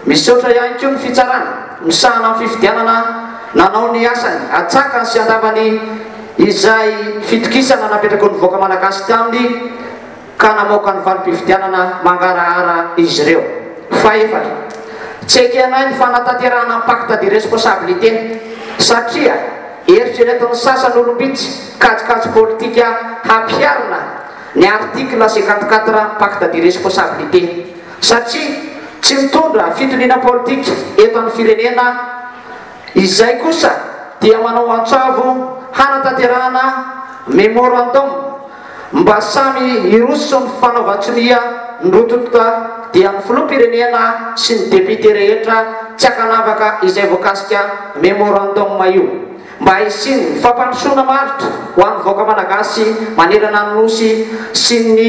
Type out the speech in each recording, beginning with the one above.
Misaotra ihany koa ny fitsarana misahana ny fifidianana nanao ny asany atsakany sy andavany izay fitokisana napetrako ny vahoaka malagasy taminy ka namoaka ny valim-pifidianana mangarahara izy ireo. Fahefatra, tsy ekenay ny fanatanterahana ny pacte de responsabilité satria eritreretin'ny sasany olom-bitsy kajikajy politika hampiharina ny article cinquante quatre pacte de responsabilité satria tsy mitondra fitoniana politika eto amin'ny firenena izay kosa dia manao antsavo hanatanterahana memorandum mba samy hiroso ny fanaovan-tsonia ny rototo dia ny filoham-pirenena sy ny député rehetra tsy ankanavaka izay voakasika memorandum io. mba hisian'ny fampandrosoana maharitra ho an'ny vahoaka Malagasy manerana ny Nosy sy ny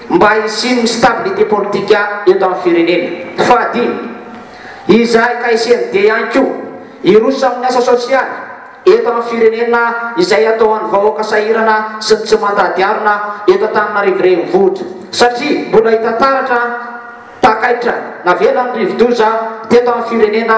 mba hisian'ny stabilité politika eto amin'ny firenena. Fahadimy, izay ka hisian'ny dia ihany koa hiroso amin'ny asa sosialy eto amin'ny firenena izay atao an'ny vahoaka sahirana sy ny tsy mandady arina eto Antananarivo Renivohitra satria mbola hita taratra takaitra navelan'ny rivodoza teto amin'ny firenena